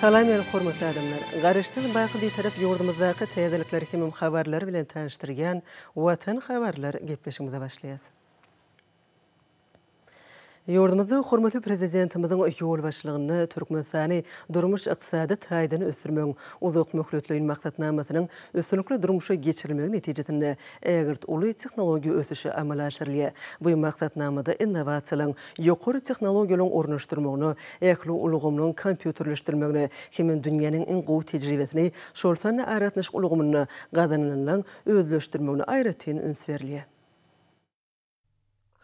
Salam ýaly hormatly adamlar! Garaşsyz, baky Bitarap ýurdumyzdaky täzelikleri hemem habarlary bilen tanyşdyrýan Watan habarlar gepleşigimize başlaýas. Ýurdumyzda hormatly Prezidentimiziň ýolbaşçylygynda Türkmenistany durmuş-ykdysady taýdan ösdürmegiň uzakmöhletleýin maksatnamasynyň üstünlikli durmuşa geçirilmegi netijesinde ägirt uly tehnologiýa ösüşi amala aşyrylýar. Bu maksatnamada innowasiýalaryň ýokary tehnologiýalaryň ornaşdyrmagyna, ähli ulgamlaryň kompýuterleşdirilmegine hem-de dünýäniň iň gowy tejribesini, şol sanda aragatnaşyk ulgamynda gazanylanlaryň özleşdirmegine aýratyn üns berilýär.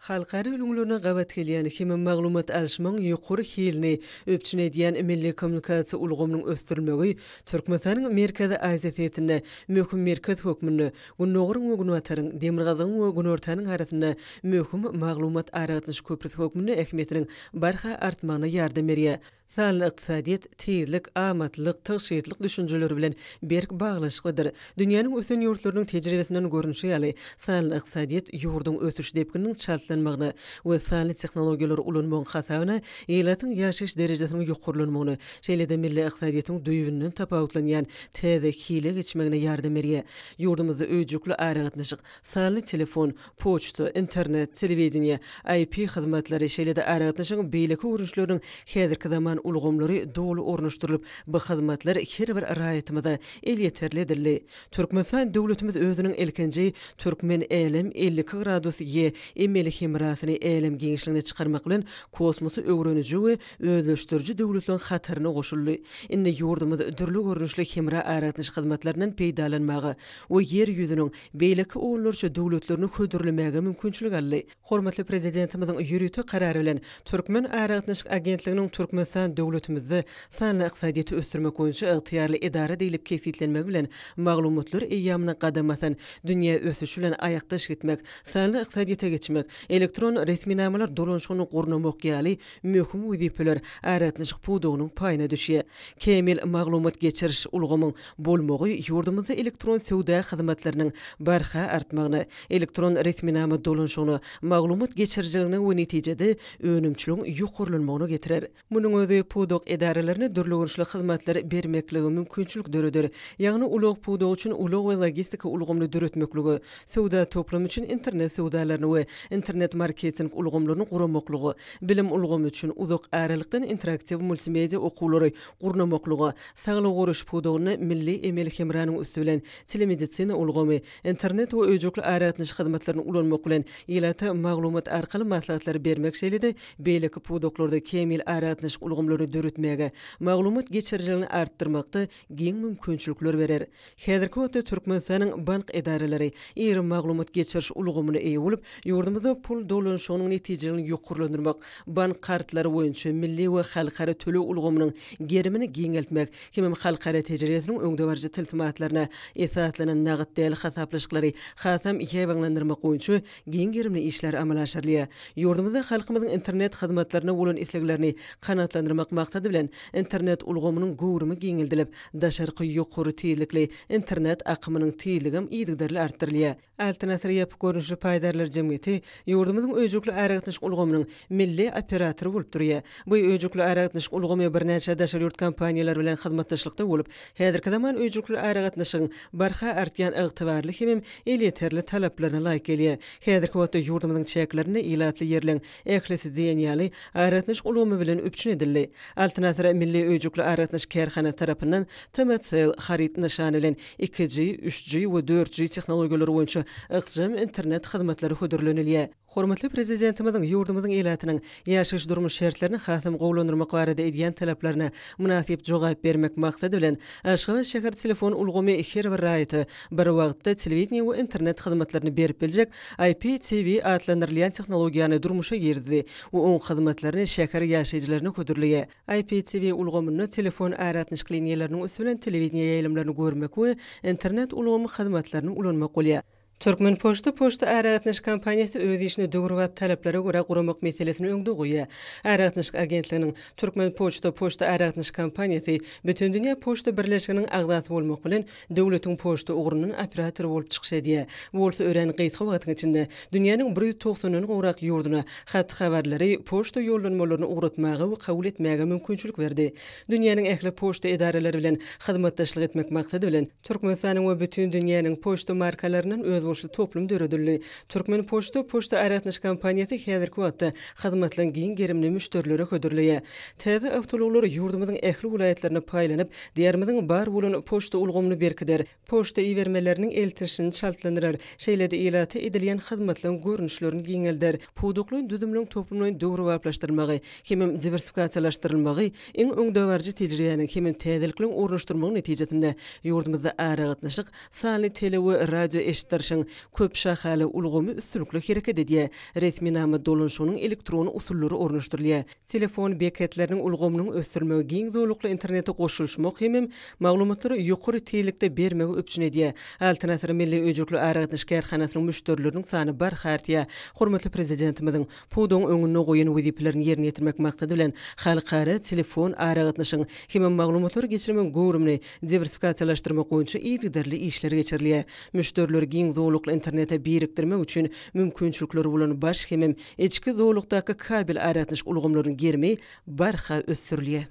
Halkara ülňülerine gabat gelýän hem-de maglumat alyşmagyň ýokary hilini üpjün edýän milli kommunikasiýa ulgamynyň ösdürilmegi Türkmenistanyň Merkezi Aziýa sebitinde möhüm merkez hökmünde Gündogaryň we Günbataryň, Demirgazygyň we Günortanyň arasynda möhüm maglumat-aragatnaşyk köprüsi hökmünde ähmiýetiniň barha artmagyna ýardam berýär. Sanly ykdysadyýet tizlik, amatlylyk, tygşytlyk düşünjeleri bilen berk baglanyşyklydyr. Dünýäniň ösen ýurtlarynyň tejribesinden görnüşi ýaly, sanly ykdysadyýet ýurduň ösüş depgininiň çaltlanmagyna we sanly tehnologiýalary ulanmagyň hasabyna ilatyň ýaşaýyş derejesiniň ýokarlanmagyna, şeýle-de milli ykdysadyýetiň düýbünden tapawutlanýan täze hile geçmegine ýardam berýär. Ýurdumyzda öýjükli aragatnaşyk, sanly telefon, poçta, internet, telewideniýe, IP hyzmatlary, şeýle-de aragatnaşygyň beýleki görnüşleriniň häzirki zaman ulgamlary doly ornaşdyrylyp, bu hyzmatlar her bir raýatymyza elýeterli edildi. Türkmenistan döwletimiz özüniň ilkinji Türkmen Älem elli iki gradus G emeli hemrasyny älem giňişligine çykarmak bilen, kosmosy öwreniji we özleşdiriji döwletleriň hataryna goşuldy. Indi ýurdumyz dürli görnüşli hemra-aragatnaşyk hyzmatlaryndan peýdalanmaga we Ýer ýüzüniň beýleki onlarça döwletlerini hödürlemäge mümkinçilik aldy. Hormatly Prezidentimiziň ýörite Karary bilen Türkmen aragatnaşyk agentliginiň Türkmenistan döwletimizde sanly ykdysadyýeti ösdürmek boýunça ygtyýarly edara diýlip kesgitlenmegi bilen maglumatlar eýýamyna gadam basan dünýä ösüşi bilen aýakdaş gitmek, sanly ykdysadyýete geçmek, elektron resminamalar dolanyşygyny gurnamak ýaly möhüm wezipeler aragatnaşyk pudagynyň paýyna düşýär. Kämil maglumat geçiriş ulgamyň bolmagy ýurdumyzda elektron söwda hyzmatlarynyň barha artmagyna, elektron resminama dolanyşygyna, maglumat geçirijiligine we netijede önümçiligiň ýokarlanmagyna getirer. Munuň özi pudak edaralaryna dürli görnüşli hyzmatlary bermeklige mümkinçilik döreder, ýagny ulag pudagy üçin ulag we logistika ulgamyny döretmeklige, söwda toplumy üçin internet söwdalaryny we internet-marketing ulgamlaryny guramaklyga, bilim ulgamy üçin uzak aralykdan interaktiw multimedia okuwlary gurnamaklyga, saglygy goraýyş pudagynda milli emeli hemranyň üsti bilen telemedisina ulgamy, internet we öýjükli aragatnaşyk hyzmatlaryny ulanmak bilen ilata maglumat arkaly maslahatlary bermek şeýle-de beýleki pudaklarda kämil aragatnaşyk ulgamlaryny döretmäge, maglumat geçirijiligini artdyrmakda giň mümkinçilikler berer. Häzirki wagtda Türkmenistanyň bank edaralary iri maglumat geçiriş ulgamyna eýe bolup, ýurdumyzda pul dolanyşygynyň netijeligini ýokarlandyrmak, bank kartlary boýunça milli we halkara töleg ulgamynyň gerimini giňeltmek hemem halkara tejribesiniň öňdebaryjy tilsimatlaryna esaslanan nagt däl hasaplaşyklary hasam ýaýbaňlandyrmak boýunça giň gerimli işler amala aşyrylýar. Ýurdumyzda halkymyzyň internet hyzmatlaryna bolan isleglerini kanagatlandyrmak maksady bilen, internet ulgamynyň göwrümi giňeldilip, daşarky ýokary tizlikli internet akymynyň tizligem yzygiderli artdyrylýar. Altyn asyr ýapyk görnüşli paýdarlar jemgyýeti ýurdumyzyň öýjükli aragatnaşyk ulgamynyň milli operatory bolup durýar. Bu öýjükli aragatnaşyk ulgamy birnäçe daşary ýurt kompaniýalary bilen hyzmatdaşlykda bolup, häzirki zaman öýjükli aragatnaşygyň barha artýan ygtybarly hemem elýeterli talaplaryna laýyk gelýär. Häzirki wagtda ýurdumyzyň çäklerinde ilatly ýerleň ählisi diýen ýaly aragatnaşyk ulgamy bilen üpjün edildi. Altyn asyr milli öýjükli aragatnaşyk kärhanasy tarapyndan TMCell haryt nyşany bilen iki-ji, üç-ji we dört-ji tehnologiýalary boýunça ykjam internet hyzmatlary hödürlenilýär. Hormatly Prezidentimiziň ýurdumyzyň ilatynyň ýaşaýyş-durmuş şertlerini hasam gowulandyrmak barada edýän talaplaryna mynasyp jogap bermek maksady bilen, Aşgabat şäher telefon ulgamy her bir raýata bir wagtda telewideniýe we internet hyzmatlaryny berip biljek IPTV atlandyrylýan tehnologiýany durmuşa girizdi we oň hyzmatlaryny şäher ýaşaýjylaryna hödürleýär. IPTV ulgamynda telefon aragatnaşyk liniýalarynyň üsti bilen telewideniýe ýaýlymlaryny görmek we internet ulgamy hyzmatlaryny ulanmak bolýar. Türkmenpoçta poçta aragatnaşyk kompaniýasy öz işini döwrebap talaplara görä guramak meselesini öňde goýýar. Aragatnaşyk agentliginiň Türkmenpoçta poçta aragatnaşyk kompaniýasy Bütindünýä poçta birleşiginiň agzasy bolmak bilen, döwletiň poçta ugrundan operatory bolup çykyş edýär. Bu bolsa örän gysga wagtyň içinde dünýäniň bir ýüz togsandan gowrak ýurduna hat-habarlary, poçta ýollanmalaryny ugratmaga we kabul etmäge mümkinçilik berdi. Dünýäniň ähli poçta edaralary bilen hyzmatdaşlyk etmek maksady bilen, Türkmenistanyň we bütin dünýäniň poçta markalaryndan özboluşly toplum döredildi. Türkmenpoçta poçta aragatnaşyk kompaniýasy häzirki wagtda hyzmatlaryň giň gerimini müşderilere hödürleýär. Täze awtoulaglar ýurdumyzyň ähli welaýatlaryna paýlanyp, Diýarymyzyň bar bolan poçta ulgamyny berkider, poçta ibermeleriniň eltişini çaltlandyrar, şeýle-de ilata edilýän hyzmatlaryň görnüşlerini giňelder, pudaklaýyn düzümleriň toplumlaýyn döwrebaplaşdyrylmagy hemem diwersifikasiýalaşdyrylmagy, Iň öňdebaryjy tejribäniň hemem täzelikligiň ornaşdyrylmagy netijesinde, ýurdumyzda aragatnaşyk, sanly tele we radioeşitdirişiň köp şahaly ulgamy üstünlikli hereket edýär, resminama dolanşygynyň elektron usullary ornaşdyrylýar, telefon beketleriniň ulgamynyň ösdürilmegi giň zolakly internete goşulyşmak hemem maglumatlary ýokary tizlikde bermegi üpjün edýär, Altyn asyr milli öýjükli aragatnaşyk kärhanasynyň müşderileriniň sany barha artýar, hormatly Prezidentimiziň. pudagyň öňünde goýan wezipelerini ýerine ýetirmek maksady bilen, halkara telefon aragatnaşygyň hem-de maglumatlary geçirmegiň göwrümini diwersifikasiýalaşdyrmak boýunça yzygiderli işler geçirilýär. Müşderileri giň zolakly internete birikdirmek üçin mümkinçilikleri bolan baş hemem içki zolakdaky kabel aragatnaşyk ulgamlarynyň gerimi barha ösdürilýär.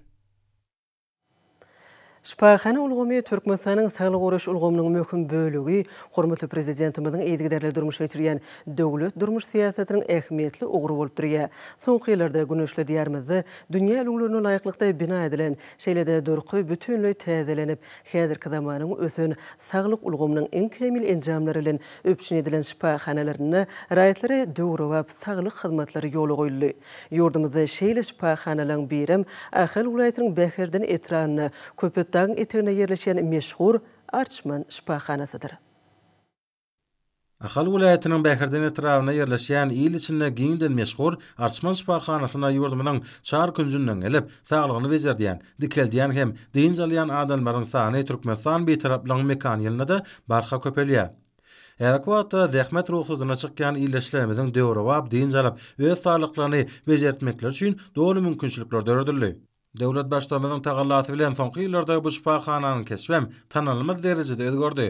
Şypahana ulgamy Türkmenistanyň saglygy goraýyş ulgamynyň möhüm bölegi, hormatly Prezidentimiziň yzygiderli durmuşa geçirýän döwlet durmuş syýasatynyň ähmiýetli ugry bolup durýar. Soňky ýyllarda güneşli Diýarymyzda dünýä ülňülerine laýyklykda bina edilen, şeýle-de durky bütinleý täzelenip, häzirki zamanyň ösen saglyk ulgamynyň iň kämil enjamlary bilen üpjün edilen şypahanalarynda raýatlara döwrebap saglyk hyzmatlary ýola goýuldy. Ýurdumyzda şeýle şypahanalaryň birem Ahal welaýatynyň Bäherden etrabynda Köpetdagyň eteginde ýerleşýän meşhur Arçman şypahanasydyr. Ahal welaýatynyň Bäherden etrabynda ýerleşýän il içinde giňden meşhur Arçman şypahanasyna ýurdumyzyň çar künjünden gelip, saglygyny bejerdýän, dikeldýän hem dynç alýan adamlaryň sany Türkmenistan Bitaraplygyň mekan ýylynda-da barha köpelýär. Häzirki wagtda zähmet rugsadyna çykýan ildeşlerimiziň döwrebap dynç alyp, öz saglyklaryny bejertmekleri üçin doly mümkinçilikler döredildi. Döwlet Baştutanymyzyň tagallasy bilen soňky ýyllarda bu şypahananyň keşbem tanalmaz derejede özgerdi.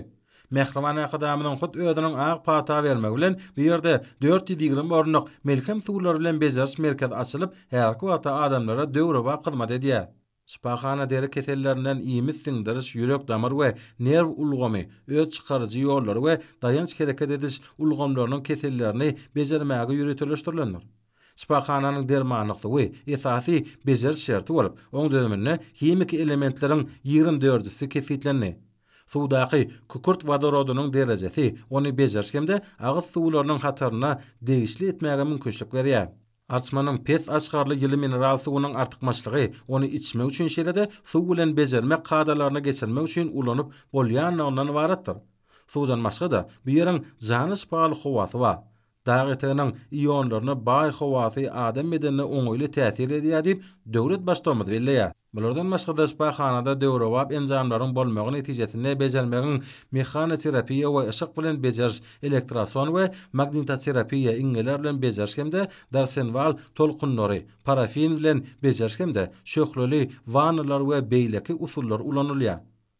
Mähriban Arkadagymyzyň hut özüniň ak pata bermegi bilen bu ýerde dört ýüz ýigrimi orunlyk Melhem suwlary bilen bejeriş merkezi açylyp, häzirki wagtda adamlara döwrebap hyzmat edýär. Şypahana deri kesellerinden iýmit siňdiriş, ýürek-damar we nerw ulgamy, öt çykaryjy ýollary we daýanç hereket ediş ulgamlarynyň kesellerini bejermäge ýöriteleşdirilendir. Şypahananyň dermanlyk suwy esasy bejeriş şerti bolup, oň düzüminde himiki elementleriň ýigrimi dördüsi kesgitlendi. Suwdaky kükürt wodorodynyň derejesi ony bejeriş hem-de agyz suwlarynyň hataryna degişli etmäge mümkinçilik berýär. Arçmanyň pes aşgarly ýyly mineral suwunyň artykmaçlygy ony içmek üçin şeýle-de suw bilen bejermek kadalaryny geçirmek üçin ulanyp bolýanlygyndan ybaratdyr. Suwdan başga-da, bu ýeriň jana şypaly howasy bar. Dag eteginiň ionlaryna baý howasy adam bedenine oňaýly täsir edýär diýip, döwlet Baştutanymyz belleýär. Bulardan başga-da şypahanada döwrebap enjamlaryň bolmagy netijesinde bejermegiň mehanoterapiýa we yşyk bilen bejeriş, elektroson we magnitoterapiýa, iňňeler bilen bejeriş hem-de Darsenwal tolkunlary, parafin bilen bejeriş hem-de şöhleli wannalar we beýleki usullar ulanylýar.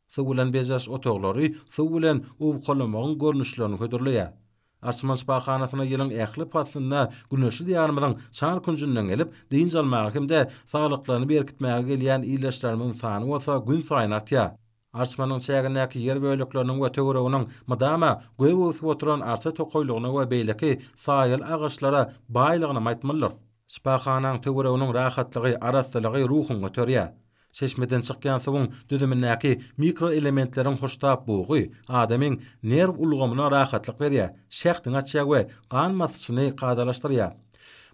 Suw bilen bejeriş otaglary suw bilen owkalamagyň görnüşlerini hödürleýär. Arçman şypahanasyna ýylyň ähli paslynda güneşli Diýarymyzyň çar künjünden gelip, dynç almaga hem-de saglyklaryny berkitmäge gelýän ildeşlerimiziň sany bolsa günsaýyn artýar. Arçmanyň çägindäki ýer bölekleriniň we töwereginiň mydama gök öwsüp oturan arça tokaýlygyna we beýleki saýaly agaçlara baýlygynam aýtmalydyrys. Şypahanaň töwereginiň rahatlygy, arassalygy ruhuňy göterýär. Çeşmeden çykýan suwuň düzümindäki mikroelementleriň hoştap bugy adamyň nerw ulgamyna rahatlyk berýär, şähdiňi açýar we gan basyşyny kadalaşdyrýar.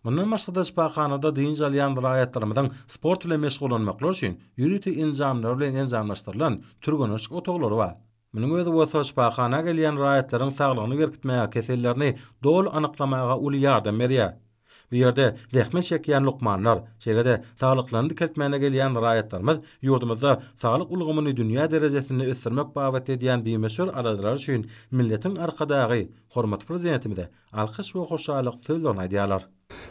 Mundan başga-da şypahanada dynç alýan raýatlarymyzyň sport bilen meşgullanmaklary üçin ýörite enjamlar bilen enjamlaşdyrylan türgeneçlik otaglary bar. Munuň özi bolsa şypahana gelýän raýatlaryň saglygyny berkitmäge, kesellerini doly anyklamaga uly ýardam berýär. Bu ýerde zähmet çekýän lukmanlar, şeýle-de saglyklaryny dikeltmäne gelýän raýatlarymyz ýurdumyzda saglyk ulgamyny dünýä derejesinde ösdürmek babatda edýän bimöçber aladalary üçin milletiň Arkadagy, hormatly Prezidentimize alkyş we hoşallyk sözlerini aýdýarlar.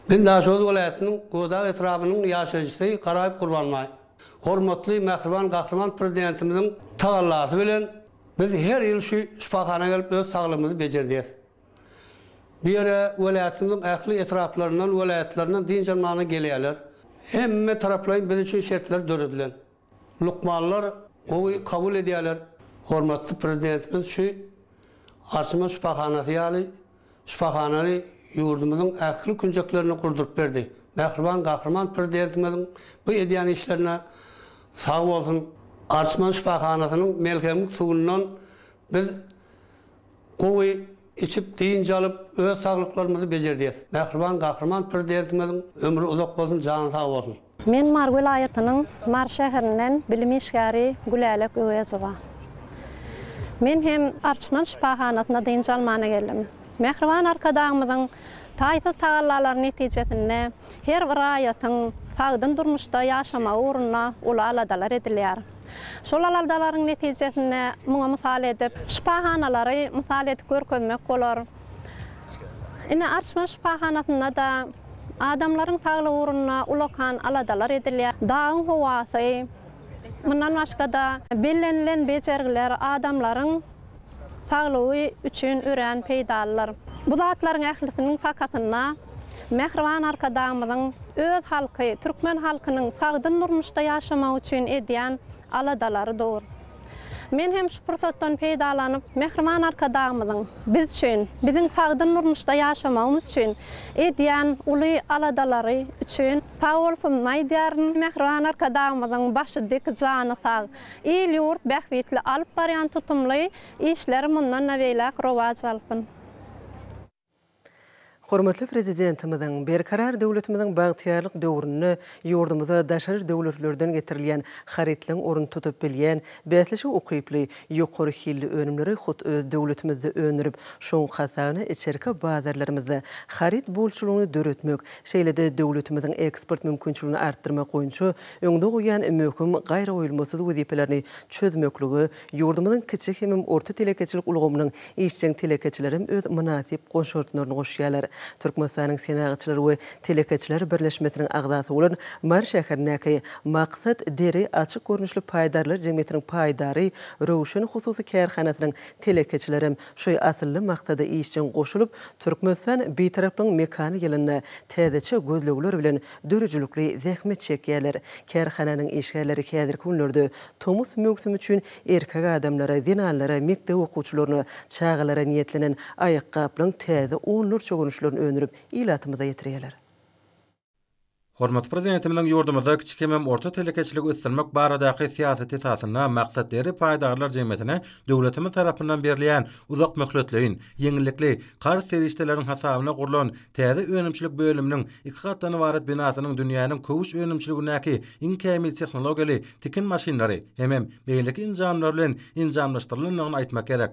Men Daşoguz welaýatynyň Gowudag etrabynyň ýaşaýjysy Garaýew Gurbanbaý. Hormatly Mähriban Gahryman Prezidentimiziň tagallasy bilen biz her ýyl şu şypahana gelip öz saglygymyzy bejerdýäs. Bu ýere welaýatymyzyň ähli etraplaryndan, welaýatlaryndan dynç almagyna gelýärler. Hemme taraplaýyn biz üçin şertler döredilen. Lukmanlar gowy kabul edýärler. Hormatly Prezidentimiz şu Arçaman şypahanasy ýaly şypahanany ýurdumyzyň ähli künjeklerinde gurduryp berdi. Mähriban Gahryman Prezidentimiziň bu edýän işlerine sag bolsun! Arçman şypahanasynyň melhemlik suwundan biz Gowy içip, dynç alyp, öz saglyklarymyzy bejerdýäs. Mähriban Gahryman Prezidentimiziň ömri uzak bolsun, jany sag bolsun! Men Mary welaýatynyň Mary şäherinden bilim işgäri Gülälek Öwezowa. Men hem Arçman şypahanasyna dynç almana geldim. Mähriban Arkadagymyzyň taýsyz tagallalary netijesinde her bir raýatyň sagdyn durmuşda ýaşamagy ugrunda uly aladalar edilýär. Şol aladalaryň netijesinde muňa mysal edip, şypahanalary mysal edip görkezmek bolar. Ine, Arçman şypahanasynda-da adamlaryň saglygy ugrunda ulakan aladalar edilýär. Dagyň howasy, mundan başga-da bellenilen bejergiler adamlaryň. saglygy üçin örän peýdalydyr. Bu zatlaryň ählisiniň sakasynda mähriban Arkadagymyzyň öz halky, türkmen halkynyň sagdyn durmuşda ýaşamagy üçin edýän aladalary dur. Men hem şu pursatdan peýdalanyp, mähriban Arkadagymyzyň biz üçin, biziň sagdyn durmuşda ýaşamagymyz üçin edýän uly aladalary üçin sag bolsun aýdýaryn. Mähriban Arkadagymyzyň başy dik, jany sag! Il-ýurt bähbitli alyp barýan tutumly işleri mundan-da beýläk rowaç alsyn! Hormatly Prezidentimiziň Berkarar döwletimiziň bagtyýarlyk döwründe ýurdumyza daşary döwletlerden getirilýän harytlaryň ornuny tutup bilýän, bäsleşige ukyply, ýokary hilli önümleri hut öz döwletimizde öndürip, şoň hasabyna içerki bazarlarymyzda haryt bolçulygyny döretmek, şeýle-de döwletimiziň eksport mümkinçiligini artdyrmak boýunça öňde goýan möhüm, gaýragoýulmasyz wezipelerini çözmeklige ýurdumyzyň kiçi hemem orta telekeçilik ulgamynyň işjeň telekeçilerem öz mynasyp goşartlaryny goşýarlar. Türkmenistanyň Senagatçylar we telekeçiler birleşmesiniň agzasy bolan Mary şäherindäki Maksat deri açyk görnüşli paýdarlar jemgyýetiniň paýdary Röwşen hususy kärhanasynyň telekeçilerem şu asylly maksada işjeň goşulyp, Türkmenistan Bitaraplygyň mekany ýylynda täzeçe gözlegler bilen döredijilikli zähmet çekýärler. Kärhananyň işgärleri häzirki günlerde tomus möwsümi üçin erkek adamlara, zenanlara, mekdep okuwçylaryna, çagalara niýetlenen aýakgaplaryň täze onlarça görnüşlerini öndürip, ilatymyza ýetirýärler. Hormatly Prezidentimiziň ýurdumyzda kiçi hemem orta telekeçiligi ösdürmek baradaky syýasy esasynda maksatly iri paýdarlar jemgyýetine döwletimiz tarapyndan berilýän uzak möhletleýin, ýeňillikli, karz serişdeleriniň hasabyna gurlan Täze önümçilik bölüminiň iki gatdan ybarat binasynyň dünýäniň köwüş önümçiligindäki iň kämil tehnologiýaly tikin maşynlary hemem beýleki enjamlar bilen enjamlaşdyrylandygyny aýtmak gerek.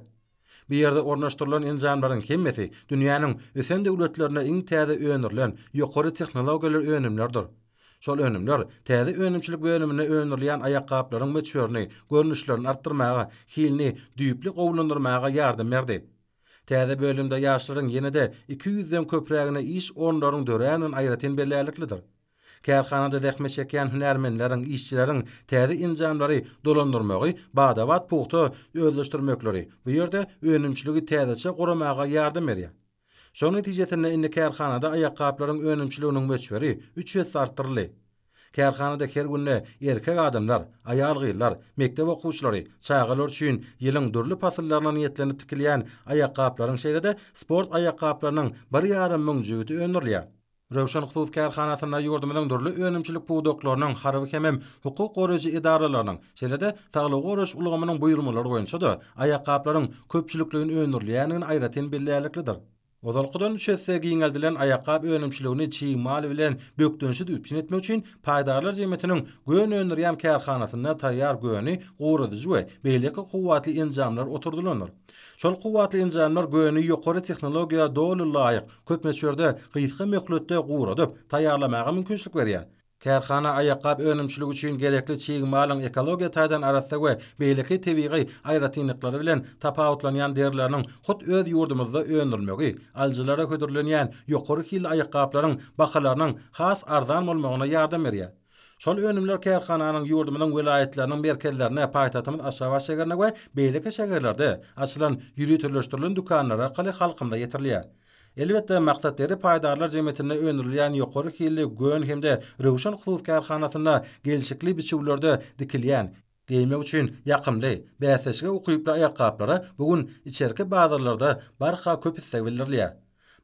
Bu ýerde ornaşdyrylan enjamlaryň hemmesi dünýäniň ösen döwletlerinde iň täze öndürilen ýokary tehnologiýaly önümlerdir. Şol önümler täze önümçilik bölüminde öndürilýän aýakgaplaryň möçberini, görnüşlerini artdyrmaga, hilini düýpli gowulandyrmaga ýardam berdi. Täze bölümde ýaşlaryň ýene-de iki ýüzden köprägine iş orunlarynyň döräýmegini aýratyn bellärliklidir. Kärhanada zähmet çekýän hünärmenleriň, işçileriň täze enjamlary dolandyrmagy bada-bat pugta özleşdirmekleri bu ýerde önümçiligi täzeçe guramaga ýardam berýär. Şonuň netijesinde indi kärhanada aýakgaplaryň önümçiliginiň möçberi üç esse artdyryldy. Kärhanada her günde erkek adamlar, aýal-gyzlar, mekdep okuwçylary, çagalar üçin ýylyň dürli pasyllaryna niýetlenip tikilýän aýakgaplaryň şeýle-de sport aýakgaplarynyň bir ýarym müň jübüti öndürilýär. Röwşen hususy kärhanasynda ýurdumyzyň dürli önümçilik pudaklarynyň, harby hemem hukuk goraýjy edaralarynyň, şeýle-de saglygy goraýyş ulgamynyň buýurmalary boýunça-da aýakgaplaryň köpçülikleýin öndürilýändigini aýratyn bellärliklidir. Ozalkydan üç esse giňeldilen aýakgap önümçiligini çig mal bilen bökdençsiz üpjün etmek üçin paýdarlar jemgyýetiniň gön öndürýän kärhanasynda taýýar göni guradyjy we beýleki kuwwatly enjamlar oturdylandyr. Şol kuwwatly enjamlar göni ýokary tehnologiýa doly laýyk, köp möçberde, gysga möhletde guradyp, taýýarlamaga mümkinçilik berýär. Kärhana aýakgap önümçiligi üçin gerekli çig malyň ekologiýa taýdan arassa we beýleki tebigy aýratynlyklary bilen tapawutlanýan derileriniň hut öz ýurdumyzda öndürilmegi, alyjylara hödürlenýän ýokary hilli aýakgaplaryň bahalarynyň has arzan bolmagyna ýardam berýär. Şol önümler kärhananyň ýurdumyzyň welaýatlarynyň merkezlerine, paýtagtymyz Aşgabat şäherine we beýleki şäherlerde açylan ýöriteleşdirilen dükanlar arkaly halkymyza ýetirilýär. Elbetde, Maksat deri paýdarlar jemgyýetinde öndürilýän ýokary hilli Gön hem-de Röwşen hususy kärhanasynda gelşikli biçüwlerde dikilýän, geýmek üçin ýakymly, bäsleşige ukyply aýakgaplara bu gün içerki bazarlarda barha köp isleg bildirilýär.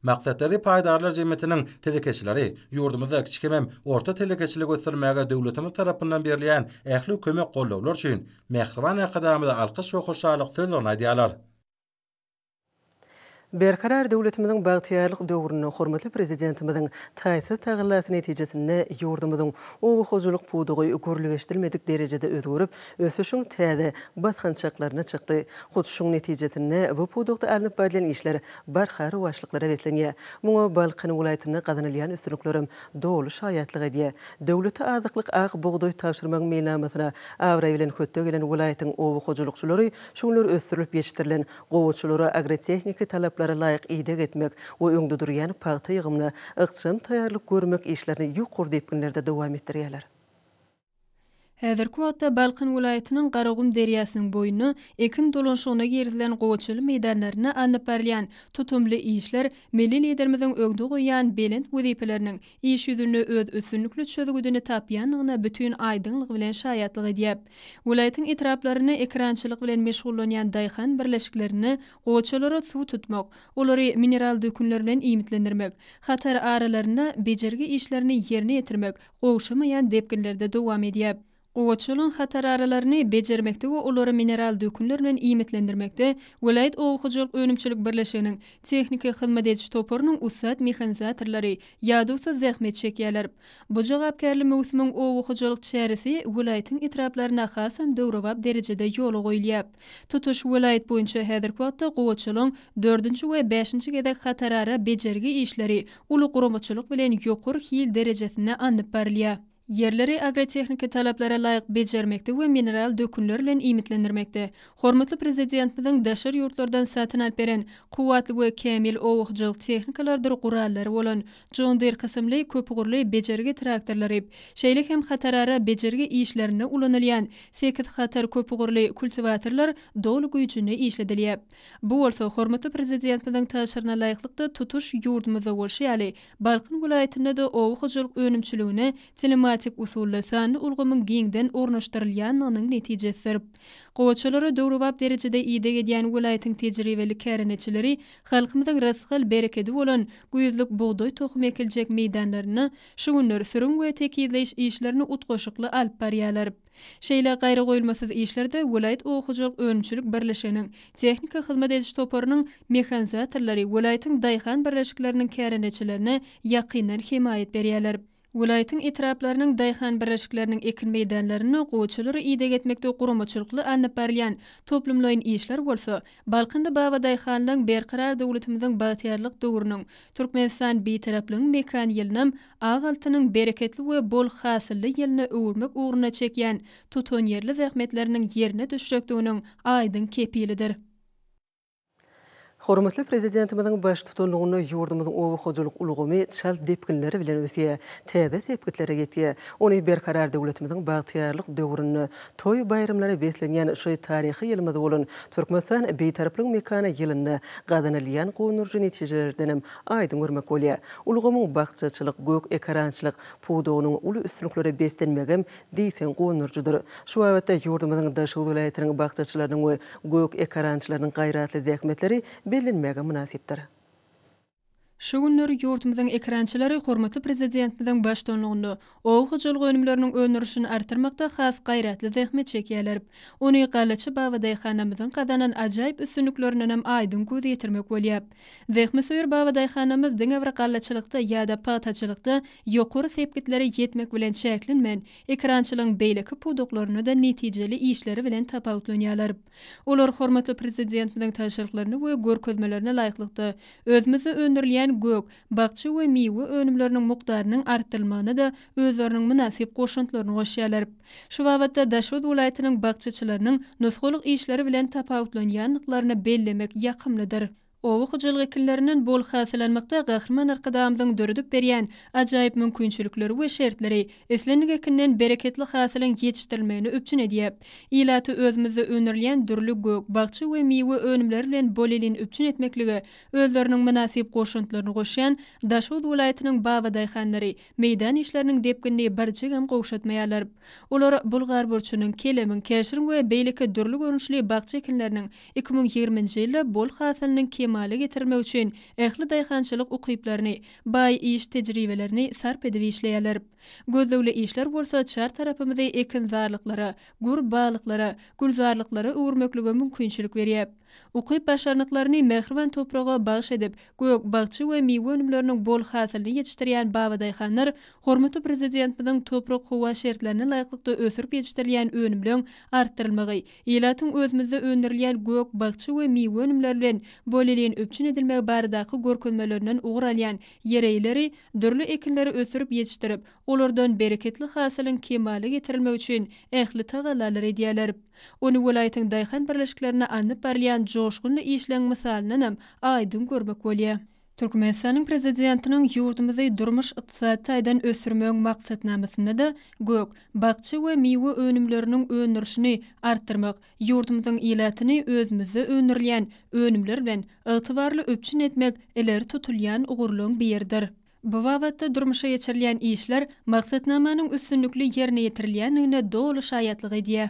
Maksat deri paýdarlar jemgyýetiniň telekeçileri ýurdumyzda kiçi hemem orta telekeçiligi ösdürmäge döwletimiz tarapyndan berilýän ähli kömek-goldawlar üçin mähriban Arkadagymyza alkyş we hoşallyk sözlerini aýdýarlar. Berkarar döwletimiziň bagtyýarlyk döwründe hormatly Prezidentimiziň taýsyz tagallasy netijesinde ýurdumyzyň oba hojalyk pudagy görligeşdirilmedik derejede özgerip, ösüşiň täze basgançaklaryna çykdy. Hut şuň netijesinde bu pudakda alnyp barylýan işler barha rowaçlyklara beslenýär. Muňa Balkan welaýatynda gazanylýan üstünliklerem doly şaýatlyk edýär. Döwlete azyklyk ak bugdaý tabşyrmagyň meýilnamasyna abraý bilen hötde gelen welaýatyň oba hojalykçylary şu günler ösdürilip ýetişdirilen Guramaçylara agrotehniki talaplara laýyk ideg etmek we öňde durýan pagta ýygymyna ykjam taýýarlyk görmek işlerini ýokary depginlerde dowam etdirýärler. Häzirki wagtda Balkan welaýatynyň Garagum derýasynyň boýunda ekin dolanşygyna girizilen gowaçaly meýdanlarynda alnyp barylýan tutumly işler milli Liderimiziň öňde goýýan belent wezipeleriniň iş ýüzünde öz üstünlikli çözgüdini tapýandygyna bütin aýdyňlygy bilen şaýatlyk edýär. Welaýatyň etraplaryny ekerançylyk bilen meşgullanýan daýhan birleşiklerinde goçalara suw tutmak, olary mineral dökünler bilen iýmitlendirmek, hatar aralarynda bejergi işlerini ýerine ýetirmek gowşamaýan depginlerde dowam edýär. Gowaçalygyň hatararalaryny bejermekde we olary mineral dökünler bilen iýmitlendirmekde welaýat oba hojalyk önümçilik birleşiginiň tehniki hyzmat ediş toparynyň ussat mehanizatorlary ýadawsyz zähmet çekýärler. Bu jogapkärli möwsümiň oba hojalyk çäresi welaýatyň etraplarynda hasam döwrebap derejede ýola goýulýar. Tutuş welaýat boýunça häzirki wagtda gowaçalygyň dördünji we bäşinji gezek hatarara bejergi işleri uly guramaçylyk bilen ýokary hil derejesinde alnyp barylýar. ýerleri agrotehniki talaplara laýyk bejermekde we mineral dökünler bilen iýmitlendirmekde hormatly Prezidentimiziň daşary ýurtlardan satyn alyp beren kuwwatly we kämil oba hojalyk tehnikalarydyr gurallary bolan John Deere kysymly köpugurly bejergi traktorlary, şeýle hem hatarara bejergi işlerinde ulanylýan sekiz hatar köpugurly kultiwatorlar doly güýjünde işledilýär. Bu bolsa hormatly Prezidentimiziň tabşyryna laýyklykda tutuş ýurdumyzda bolşy ýaly Balkan welaýatynda-da oba hojalyk önümçiligine telematik usulda sanly ulgamyň giňden ornaşdyrylýandygynyň netijesidir. Gowaçalara döwrebap derejede ideg edýän welaýatyň tejribeli kärendeçileri halkymyzyň rysgal berekedi bolan güýzlük bugdaý tohumy ekiljek meýdanlarynda şu günler sürüm we tekizleýiş işlerini utgaşykly alyp barýarlar. Şeýle gaýragoýulmasyz işlerde welaýat oba hojalyk önümçilik birleşiginiň tehniki hyzmat ediş toparynyň mehanizatorlary welaýatyň daýhan birleşikleriniň kärendeçilerine ýakyndan hemaýat berýärler. Welaýatyň etraplarynyň daýhan birleşikleriniň ekin meýdanlarynda goçalary ideg etmekde guramaçylykly alnyp barylýan toplumlaýyn işler bolsa Balkanly babadaýhanlygyň Berkarar döwletimiziň bagtyýarlyk döwrüniň Türkmenistan Bitaraplygyň mekan ýylynam Ak altynyň bereketli we bol hasylly ýylyna öwürmek ugrunda çekýän tutanýerli zähmetleriniň ýerine düşjekdiginiň aýdyň kepilidir. Hormatly Prezidentimiziň baştutanlygynda ýurdumyzyň oba hojalyk ulgamy çalt depginler bilen ösýär, täze sepgitlere ýetýär. Ony Berkarar döwletimiziň bagtyýarlyk döwründe toý-baýramlara beslenýän şu taryhy ýylymyz bolan Türkmenistan Bitaraplygyň mekany ýylynda gazanylýan gonduryjy netijelerdenem aýdyň görmek bolýar. Ulgamyň bakjaçylyk, gök ekerançylyk, pudagynyň uly üstünliklere beslenmegem diýseň guwandyryjydyr. Şu babatda ýurdumyzyň daşoguz welaýatynyň bakjaçylarynyň we gök ekerançylarynyň gaýratly zähmetleri bellenmäge mynasypdyr. Şu günler ýurdumyzyň ekerançylary hormatly Prezidentimiziň baştuanlygynda Oba hojalyk önümleriniň öndürilişini artdyrmakda has gaýratly zähmet çekýärler. Ony Gallaçy Baba daýhanamyzyň gazanan ajaýyp üstünliklerindenem aýdyň göz ýetirmek bolýar. Zähmetsöýer Baba daýhanamyz diňe bir gallaçylykda ýa-da pagtaçylykda ýokary sepgitlere ýetmek bilen çäklenmän, ekerançylygyň beýleki pudaklarynda-da netijeli işleri bilen tapawutlanýarlar. Olar hormatly Prezidentimiziň tabşyryklaryna we görkezmelerine laýyklykda, özümizde öndürilýän gök, bakja we miwe önümleriniň mukdarynyň artdyrylmagyna da özleriniň mynasyp goşantlaryny goşýarlar. Şu babatda Daşoguz welaýatynyň bakjaçylarynyň nusgalyk işleri bilen tapawutlanýandyklaryny bellemek ýakymlydyr. Oba hojalyk ekinlerinden bol hasyl almakda Gahryman Arkadagymyzyň döredip berýän ajaýyp mümkinçilikleri we şertleri islendik ekinden bereketli hasylyň ýetişdirilmegini üpjün edýär. Ilaty özümizde öndürilýän dürli gök, bakja we miwe önümleri bilen bolelin üpjün etmeklige özleriniň mynasyp goşantlaryny goşýan Daşoguz welaýatynyň babadaýhanlary meýdan işleriniň depginini birjigem gowşatmaýarlar. Olar bulgar burçunyň, kelemiň, käşiriň we beýleki dürli görnüşli bakja ekinleriniň iki müň ýigriminji ýylda bol hasylyny kemala getirilmek üçin ähli daýhançylyk ukyplaryny, baý iş tejribelerini sarp edip işleýärler. Gözlegli işler bolsa çar tarapymyzy ekinzarlyklara, gür baglyklara, gülzarlyklara öwürmeklige mümkinçilik berýär. Ukyp-başarnyklaryny mähriban topraga bagyş edip, gök-bakja we miwe önümleriniň bol hasylyny ýetişdirýän babadaýhanlar hormatly Prezidentimiziň toprak-howa şertlerine laýyklykda ösürip ýetişdirilýän önümleň artdyrylmagy, ilatyň özümizde öndürilýän gök-bakja we miwe önümleri bilen bolelin üpjün edilmegi baradaky görkezmelerinden ugur alýan ýereýleri, dürli ekinleri ösürip ýetişdirip, olardan bereketli hasylyň kemala getirilmegi üçin ähli tagallalary edýärler. Ony welaýatyň daýhan birleşiklerinde alnyp barylýan joşgunly işleň mysalyndanam aýdyň görmek bolýar. Türkmenistanyň Prezidentiniň ýurdumyzy durmuş-ykdysady taýdan ösdürmegiň maksatnamasynda-da gök, bakja we miwe önümleriniň öndürişini artdyrmak, ýurdumyzyň ilatyny özümizde öndürilýän önümler bilen ygtybarly üpjün etmek ileri tutulýan ugurlaryň biridir. Bu babatda durmuşa geçirilýän işler maksatnamanyň üstünlikli ýerine ýetirilýändigine doly şaýatlyk edýär.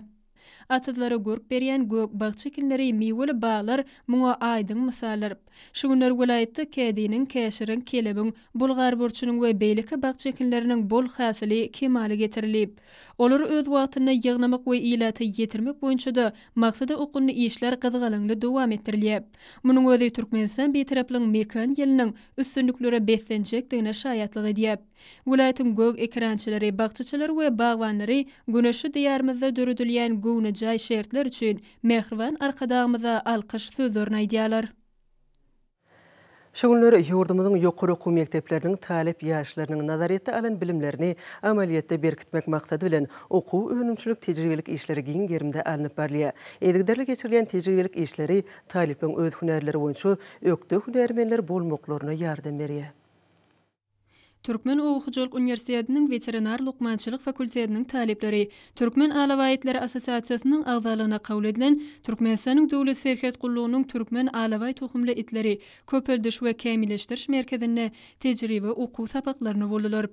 Atyzlara görk berýän gök bakja ekinleri, miweli baglar muňa aýdyň mysaldyr. Şu günler welaýatda kädiniň, käşiriň, kelebiň, bulgarburçunyň we beýleki bakja ekinleriniň bol hasyly kemala getirilip, Olary öz wagtynda ýygnamak we ilata ýetirmek boýunça-da maksada okgunly işler gyzgalaňly dowam etdirilýär. Munuň özi Türkmenistan Bitaraplygyň mekan ýylynyň üstünliklere beslenjekdigine şaýatlyk edýär. Welaýatyň gök ekerançylary, bakjaçylary we bagbanlary güneşli Diýarymyzda döredilýän göwnejaý şertler üçin mähriban Arkadagymyza alkyş sözlerini aýdýarlar. Şu günler ýurdumyzyň ýokary okuw mekdepleriniň talyp ýaşlarynyň nazaryýetde alan bilimlerini amalyýetde berkitmek maksady bilen, okuw-önümçilik tejribelik işleri giň gerimde alnyp barylýar. Yzygiderli geçirilýän tejribelik işleri talyplaryň öz hünärleri boýunça ökde hünärmenler bolmaklaryna ýardam berýär. Türkmen oba hojalyk uniwersitetiniň weterinar lukmançylyk fakultetiniň talyplary Türkmen alabaýtlary assosiasiýasynyň agzalygyna kabul edilen Türkmenistanyň Döwlet serhet gullugynyň Türkmen alabaý tohumly itleri köpeldiş we kämilleşdiriş merkezinde tejribe okuw sapaklaryny boldular.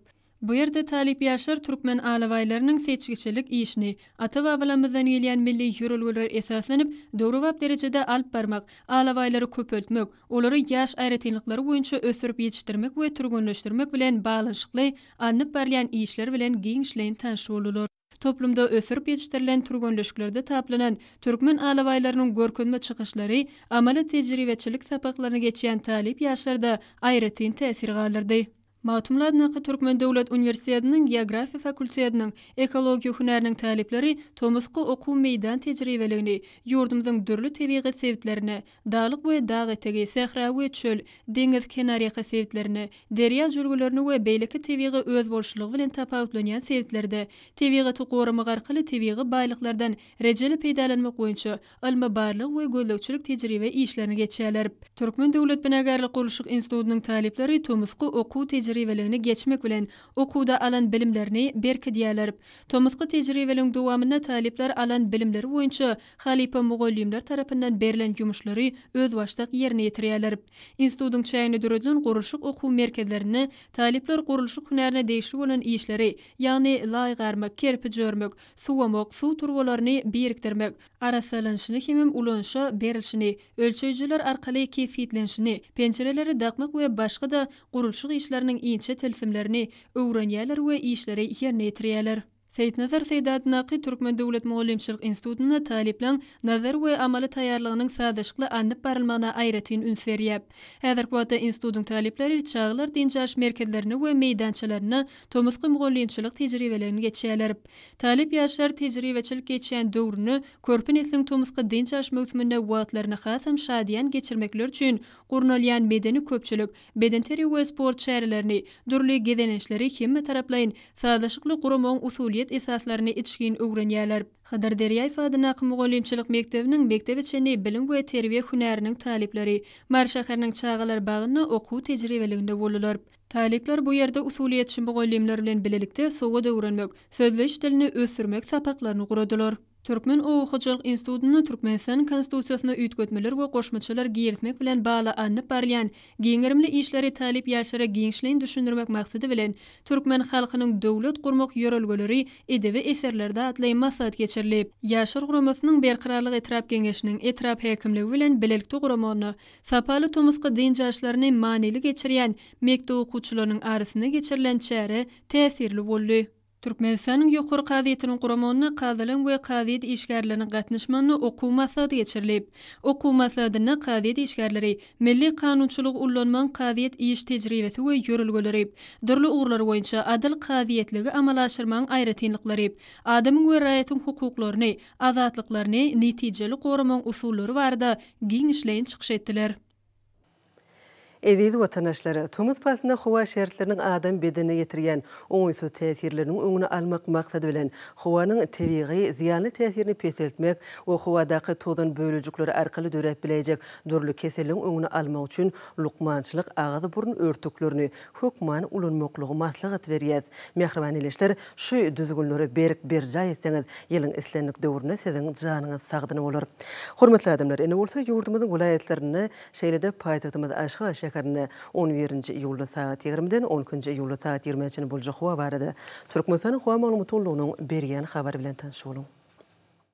Bu ýerde talyp ýaşlar türkmen alabaýlarynyň seçgiçilik işini, Ata-babalarymyzdan gelýän milli ýörelgelere esaslanyp, döwrebap derejede alyp barmak, alabaýlary köpeltmek, olary ýaş aýratynlyklary boýunça ösdürip ýetişdirmek we türgenleşdirmek bilen baglanyşykly alnyp barylýan işler bilen giňişleýin tanyş boldular. Toplumda ösdürip ýetişdirilen türgenleşiklerde taplanan türkmen alabaýlarynyň görkezme çykyşlary amaly tejribeçilik sapaklaryny geçýän talyp ýaşlarda aýratyn täsir galdyrdy. Magtymguly atyndaky Türkmen döwlet uniwersitetiniň Geografiýa fakultetiniň Ekologiýa hünäriniň talyplary tomusky okuw meýdan tejribeligini ýurdumyzyň dürli tebigy sebitlerine, daglyk we dag etegi, sähra we çöl, deňiz kenarýaka sebitlerine, derýa jülgelerine we beýleki tebigy özboluşlylygy bilen tapawutlanýan sebitlerde tebigaty goramak arkaly tebigy baýlyklardan rejeli peýdalanmak boýunça ylmy-barlag we gözlegçilik tejribe işlerini geçýärler. Türkmen döwlet binagärlik-gurluşyk institutynyň talyplary tomusky okuw tejribeligini geçmek bilen, okuwda alan bilimlerini berkidýärler. Tomusky tejribeligiň dowamynda talyplar alan bilimleri boýunça halypa mugallymlar tarapyndan berlen ýumuşlary özbaşdak ýerine ýetirýärler. Institutyň çäginde döredilen gurluşyk okuw merkezlerinde talyplar gurluşyk hünärine degişli bolan işleri, ýagny laý garmak, kerpiç örmek, suwamak, suw turbalaryny birikdirmek, arassalanyşyny hemem ulanyşa berilişini, ölçeýjiler arkaly kesgitlenişini, penjireleri dakmak we başga-da gurluşyk işleriniň inçe tilsimlerini öwrenýärler we işleri ýerine ýetirýärler. Seýitnazar Seýdatnaky Türkmen döwlet mugallymçylyk institutynda talyplaň nazary we amaly taýýarlygynyň sazlaşykly alnyp barylmagyna aýratyn üns berýär. Häzirki wagtda institutyň talyplary çagalar dynç alyş merkezlerinde we meýdançalarynda tomusky mugallymçylyk tejribelerini geçýärler. Talyp ýaşlar tejribeçilik geçýän döwrüni, körpe nesliň tomusky dynç alyş möwsüminde wagtlaryny hasam şadyýan geçirmekleri üçin gurnalýan medeni-köpçülik, bedenterbiýe we sport çärelerini, dürli gezelençleri hemmetaraplaýyn, sazlaşykly guramagyň usulyýet esaslaryny içgin öwrenýärler. Hydyr Derýaýew adyndaky mugallymçylyk mekdebiniň mekdebe çenli bilim we terbiýe hünäriniň talyplary Mary şäheriniň çagalar bagynda okuw tejribeliginde boldular. Talyplar bu ýerde usulyýetçi mugallymlar bilen bilelikde sowat öwrenmek, sözleýiş dilini ösdürmek sapaklaryny guradylar. Türkmen oba hojalyk institutynda Türkmenistanyň Konstitusiýasyna üýtgetmeler we goşmaçalar girizmek bilen bagly alnyp barylýan giň gerimli işleri talyp ýaşlara giňişleýin düşündirmek maksady bilen Türkmen halkynyň döwlet gurmak ýörelgeleri edebi eserlerde atly maslahat geçirilip, Ýaşlar guramasynyň Berkararlyk etrap Geňeşiniň etrap häkimligi bilen bilelikde guramagyna Sapaly tomusky dynç aşlaryny manyly geçirýän mekdep okuwçylarynyň arasynda geçirilen çäre täsirli boldy. Türkmenistanyň Ýokary kazyýetiniň guramagynda kazylaryň we kazyýet işgärleriniň gatnaşmagynda okuw maslahaty geçirilip, okuw maslahatynda kazyýet işgärleri milli kanunçylygy ullanmagyň kazyýet iş tejribesi we ýörelgeleri, dürli ugurlar boýunça adyl kazyýetligi amala aşyrmagyň aýratynlyklary, adamyň we raýatyň hukuklaryny azatlyklaryny netijeli goramagyň usullary barada giňişleýin çykyş etdiler. Eziz watandaşlar! Tomus paslynda howa şertleriniň adam bedenine ýetirýän oňaýsyz täsirleriniň öňüni almak maksady bilen, howanyň tebigy zyýanly täsirini peseltmek we howadaky tozan bölejikleri arkaly döräp biläýjek dürli keselleriň öňüni almak üçin lukmançylyk agyz-burun örtüklerini hökmany ulanmaklygy maslahat berýäs. Mähriban ildeşler, şu düzgünleri berk berjaý etseňiz, ýylyň islendik döwründe siziň janyňyz sagdyn bolar. Hormatly adamlar, indi bolsa ýurdumyzyň welaýatlarynda, şeýle-de paýtagtymyz Aşgabat şäherinde on birinji iýulda sagat ýigrimiden on ikinji iýulda sagat ýigrimä çenli boljak howa barada Türkmenistanyň howa maglumat gullugynyň berýän habary bilen tanyş boluň.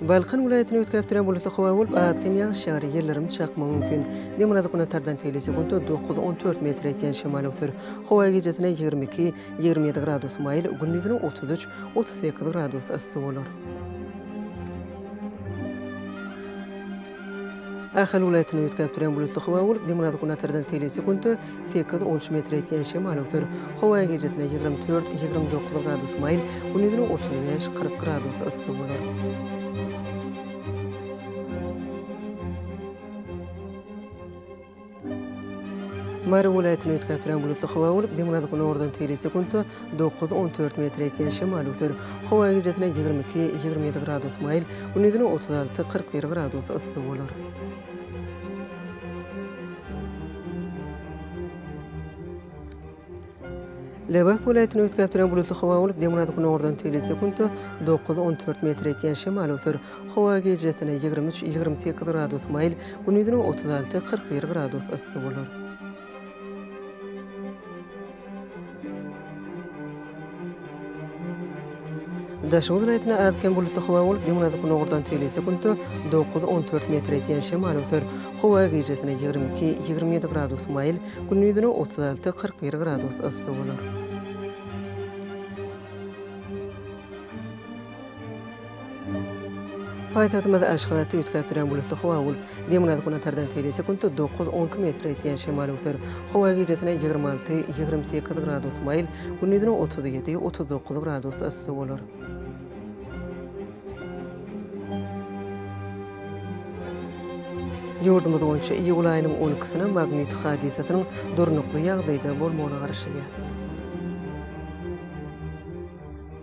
Balkan welaýatyny üýtgäpdirän bulutly howa bolup, az-kem ýagyş ýagar, ýyldyrym çakmagy mümkin. Demirgazyk-günbatardan tegli sekuntda dokuz, on dört metr ýetýän şemal öwser. Howa gijesine ýigrimi iki, ýigrimi ýedi gradus maýyl, gündizine otuz üç, otuz sekiz gradus yssy bolar. Ahal welaýatyny üýtgäp duran bulutly howa bolup, demirgazyk-günbatardan telesekuntda sekiz on üç metr ýetýän şemal öwser. Howa gijesine ýigrimi dört, ýigrimi dokuz gradus maýyl, gündizine otuz bäş, kyrk gradus yssy bolar. Mary welaýatyny üýtgäpdirän bulutly howa bolup, demirgazyk-günordan teýli sekuntda dokuz, on dört metr ýetýän şemal öser. Howa gijesinden ýigrimi iki, ýigrimi ýedi gradus maýyl, gündizine otuz alty, kyrk bir gradus yssy bolar. Lebap welaýatyny üýtgäp duran bulutly howa bolup, demirgazyk-günordan telli sekuntda dokuz, on dört metr ýetýän şemal öwser. Howa gijesine ýigrimi üç, ýigrimi sekiz gradus maýyl, gündizine otuz alty, kyrk bir gradus yssy bolar. Daşoguz welaýatynda az-kem bulutly howa bolup, günorta gündogardan tegelýän sekuntda dokuz, on dört metr eýýän şemal öser. Howa gijesine ýigrimi iki, ýigrimi ýedi gradus maýyl, gündizine otuz alty, kyrk bir gradus yssy bolar. Paýtagtymyzda Aşgabatda üýtgäp duran bulutly howa bolup, demirgazyk günortadan tebigy sekuntda dokuz, on iki metr öýtýän şemal öwser. Howa gijesine ýigrimi alty, ýigrimi sekiz gradus maýyl, gündizine otuz ýedi, otuz dokuz gradus yssy bolar. Ýurdumyz boýunça iýul aýynyň on ikisinä magnit hadysasynyň durnukly ýagdaýda bolmagyna garaşylýar.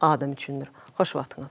adam üçindir. Hoş wagtyňyz.